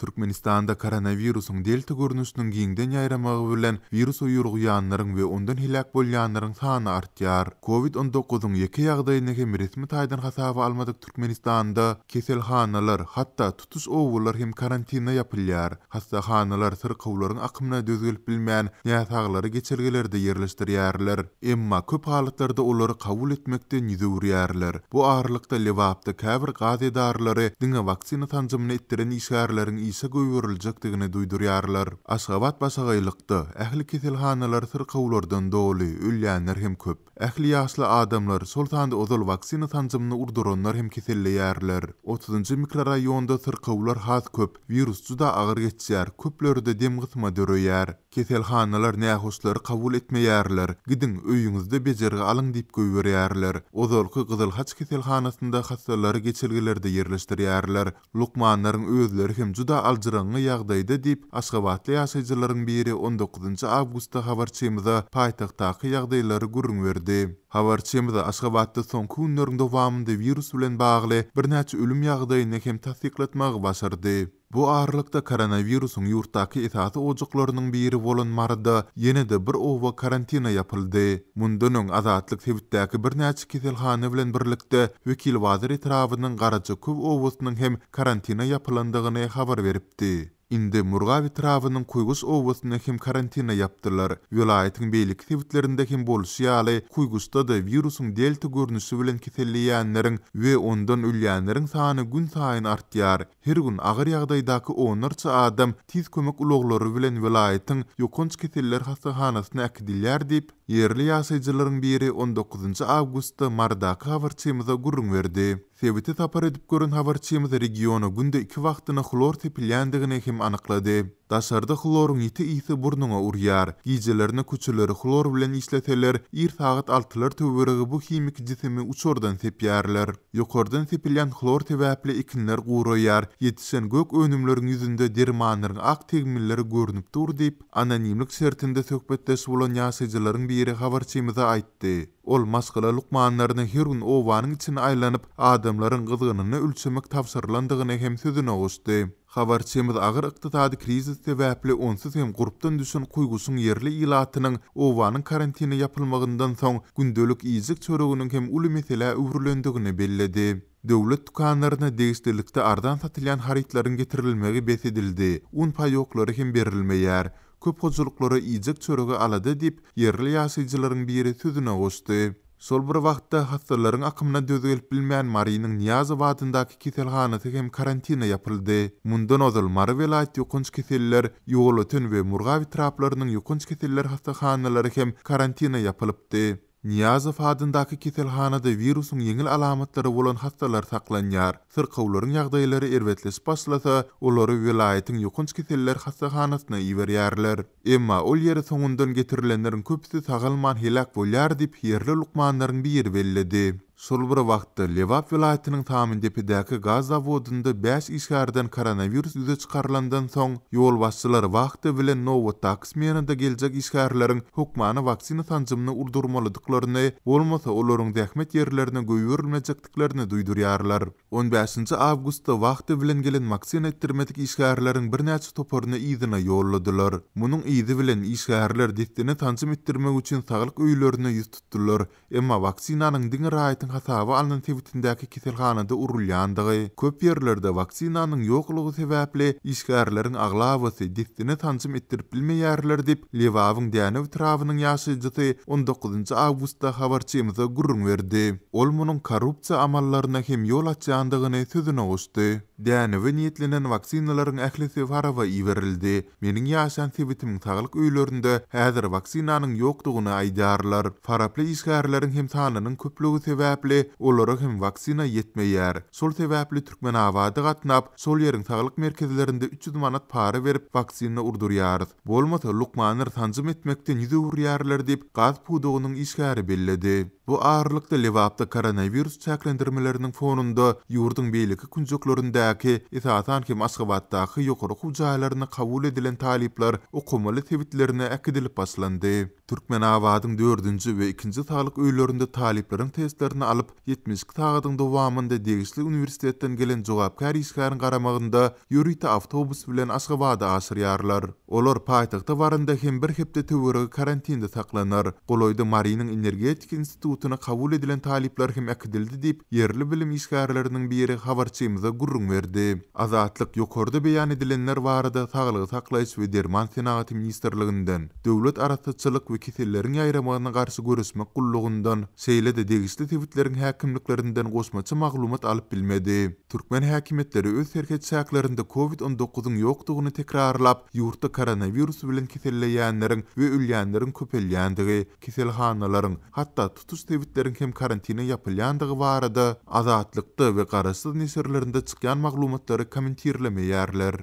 Türkmenistanda koronawirusyň delta görnüşiniň giňden ýaýramagy bilen wirusa ýoluganlaryň we ondan heläk bolýanlaryň sany artýar. Covid on dokuzyň ýeke ýagdaýyny hem resmi taýdan hasaba almadyk Türkmenistanda keselhanalar, hatda tutuş obalar hem karantine ýapylýar. Hassahanalar syrkawlaryň akymyna döz gelip bilmän, näsaglary geçelgelerde ýerleşdirýärler. Emma köp halatlarda olary kabul etmekden ýüz öwürýärler. Bu aralykda, Lebapda käbir gaz edaralary diňe waksina sanjymyny etdiren işgärleriň işe goýberiljekdigini duýdurýarlar. Aşgabat başagaýlykda. Ähli keselhanalar syrkawlardan doly, ölýänler hem köp. Ähli ýaşly adamlar, şol sanda ozal waksina sanjymyny urduranlar hem keselleýärler. Otuzynjy mikroraýonda syrkawlar has köp, wirus juda agyr geçýär, köplerde demgysma döreýär. Keselhanalar nähoşlary kabul etmeýärler, gidiň, öýüňizde bejergi alyň diýip goýberýärler. Ozalky Gyzyl Haç keselhanasynda hassalary geçelgelerde ýerleşdirýärler. Lukmanlaryň özleri hem juda aljyraňňy ýagdaýda diýip, aşgabatly ýaşaýjylaryň biri on dokuzynjy awgustda habarçymyza paýtagtdaky ýagdaýlary gürrüň berdi. Habarçymyz Aşgabatda soňky günleriň dowamynda wirus bilen bagly birnäçe ölüm ýagdaýyny hem tassyklatmagy başardy. Bu aralykda koronawirusyň ýurtdaky esasy ojaklarynyň biri bolan Maryda ýene-de bir oba karantina ýapyldy. Mundan öň Azatlyk sebitdäki birnäçe keselhana bilen birlikde Wekilbazar etrabynyň Garajaköw obasynyň hem karantina ýapylandygyny habar beripdi. Indi Murgap etrabynyň Kuýguş obasyny hem karantina ýapdylar. Welaýatyň beýleki sebitlerinde hem bolşy ýaly, Kuýguşda-da wirusyň delta görnüşi bilen keselleýänleriň we ondan ölýänleriň sany günsaýyn artýar. Her gün agyr ýagdaýdaky onlarça adam tiz kömek ulaglary bilen welaýatyň ýokanç keseller hassahanasyna äkidilýär diýip, ýerli ýaşaýjylaryň biri on dokuzynjy awgustda Marydaky habarçymyza gürrüň berdi. Sebite sapar edip gören habarçymyz regiona günde iki wagtyna hlor sepilýändigini hem anyklady. Daşarda hloryň ýiti ysy burnuňa urýar. Gijelerine köçeleri hlor bilen işleseler, ir sagat altylar töweregi bu himiki jisimi uçurdan sepýärler. Ýokardan sepilýän hlor sebäpli ekinler guraýar, ýetişen gök önümleriň ýüzünde dermanlaryň ak tegmilleri görnüp dur diýip, anonimlik şertinde söhbetdeş bolan ýaşaýjylaryň biri habarçymyza aýtdy. Ol maşgala lukmanlaryna her gün obanyň içini aýlanyp, adamlaryň gyzgynyny ölçemek tabşyrylandygyny hem sözüne goşdy. Habarçymyz agyr ykdysady krizis sebäpli onsuz hem gurpdan düşen Kuýgusyň ýerli ilatynyň obanyň karantine ýapylmagyndan soň gündelik iýjek-çöreginiň hem uly meselä öwrülendigini belledi. Döwlet dükanlaryna degişlilikde arzan satylýan harytlaryň getirilmegi bes edildi, un paýoklary hem berilmeýär. Köp hojalyklara iýjek-çörege alada diýip, ýerli ýaşaýjylaryň biri sözüne goşdy. Şol bir wagtda, hassalaryň akymyna döz gelip bilmän, Marynyň Nyýazow adyndaky keselhanasy hem karantine ýapyldy. Mundan ozal, Mary welaýat ýokanç keseller, Ýolöten we Murgap etraplarynyň ýokanç keseller hassahanalary hem karantine ýapylypdy. Nyýazow adyndaky keselhanada wirusyň ýeňil alamatlary bolan hassalar saklanýar. Syrkawlaryň ýagdaýlary erbetleşip başlasa, olary welaýatyň ýokanç keseller hassahanasyna iberýärler. Emma ol ýere soňundan getirilenleriň köpüsi sagalman heläk bolýar diýip, ýerli lukmanlaryň biri belledi. Şol bir wagtda, Lebap welaýatynyň Samyndepedäki gaz zawodynda bäş işgärden koronawirus ýüze çykarylandan soň, ýolbaşçylar wagty bilen nobatdaky smenada geljek işgärleriň hökmany waksina sanjymyny urdurmalydyklaryny, bolmasa olaryň zähmet ýerlerine goýberilmejekdiklerini duýdurýarlar. On bäşinji awgustda wagty bilen gelen maksina etdirmedik işgärleriň birnäçe toparyny yzyna ýolladylar. Munuň yzy bilen, işgärler dessine sanjym etdirmek üçin saglyk öýlerine ýüz tutdular. Emma waksinanyň diňe raýatyň hasaba alnan sebitindäki keselhanada urulýandygy, köp ýerlerde waksinanyň ýoklugy sebäpli, işgärleriň aglabasy dessine sanjym etdirip bilmeýärler diýip, Lebabyň Dänew etrabynyň ýaşaýjysy on dokuzynjy awgustda habarçymyza gürrüň berdi. Ol munuň korrupsiýa amallaryna hem ýol açýandygyny sözüne goşdy. Dänewe niýetlenen waksinalaryň ählisi Farawa iberildi. Meniň ýaşan sebitimiň saglyk öýlerinde häzir waksinanyň ýokdugyny aýdýarlar. Faraply işgärleriň hem sanynyň köplügi sebäpli, olara hem waksina ýetmeýär. Şol sebäpli Türkmenabada gatnap, şol ýeriň saglyk merkezlerinde üç ýüz manat para berip waksina urdurýarys. Bolmasa, lukmanlar sanjym etmekden ýüz öwürýärler diýip, gaz pudagynyň işgäri belledi. Bu aralykda, Lebapda koronawirus çäklendirmeleriniň fonunda ýurduň beýleki künjeklerindäki, esasan hem Aşgabatdaky ýokary okuw jaýlaryna kabul edilen talyplar okamaly sebitlerine äkidilip başlandy. Türkmenabadyň dördünji we ikinji saglyk öýlerinde talyplaryň testlerini alyp, ýetmiş iki sagadyň dowamynda degişli uniwersitetden gelen jogapkär işgäriň garamagynda ýörite awtobus bilen Aşgabada aşyrýarlar. Olar paýtagta baranda hem bir hepde töweregi karantinde saklanar. Golaýda Marynyň energetika institutyna kabul edilen talyplar hem äkidildi diýip, ýerli bilim işgärleriniň biri habarçymyza gürrüň berdi. Azatlyk ýokarda beýan edilenler barada Saglygy saklaýyş we derman senagaty ministrliginden, Döwlet arassaçylyk we keselleriň ýaýramagyna garşy göreşmek gullugyndan, şeýle-de degişli sebitleriň häkimliklerinden goşmaça maglumat alyp bilmedi. Türkmen häkimiýetleri öz serhet çäklerinde Covid on dokuzyň ýokdugyny tekrarlap, ýurtda koronawirus bilen keselleýänleriň we ölýänleriň köpelýändigi, keselhanalaryň, hatda tutuş sebitleriň hem karantine ýapylýandygy barada Azatlykda we garaşsyz neşirlerinde çykýan maglumatlary kommentirlemeýärler.